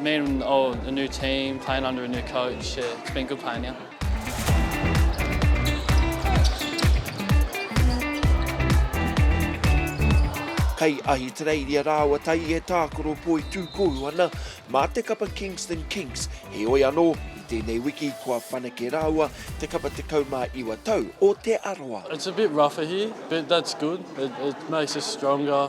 Me and oh, a new team, playing under a new coach, yeah, it's been good playing here. Kei Ahitereiria rāua tai e tākaro poitūkohu ana mā te kapa Kingston Kings, heoi anō, i tēnei wiki kua whanake rāua te kapa 19 tau o Te Arawa. It's a bit rougher here, but that's good. It, it makes us stronger.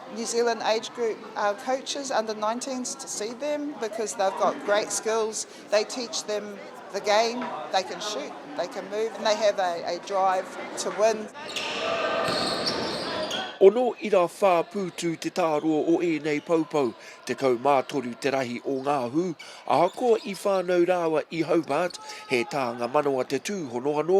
New Zealand age group coaches under nineteens to see them because they've got great skills, they teach them the game, they can shoot, they can move and they have a drive to win. Ono ira whā pūtu te tāroa o ēnei poupou, tekau mā toru te rahi o ngā hū, ahakoa i whānau rāua i Hobart, he tānga manawa te tūhono anō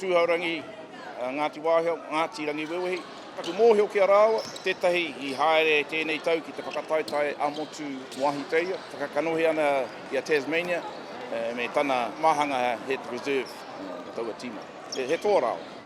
Tūhourangi, Ngāti Wāhia, Ngāti Rangiwewehi. Taku mōhio ki a rāua, tētahi i haere tēnei tau ki te whakataetae ā-motu wāhiteia, whakakanohi ana i a Tasmania me tana māhanga he reserve mō taua tīma. He toa rāua.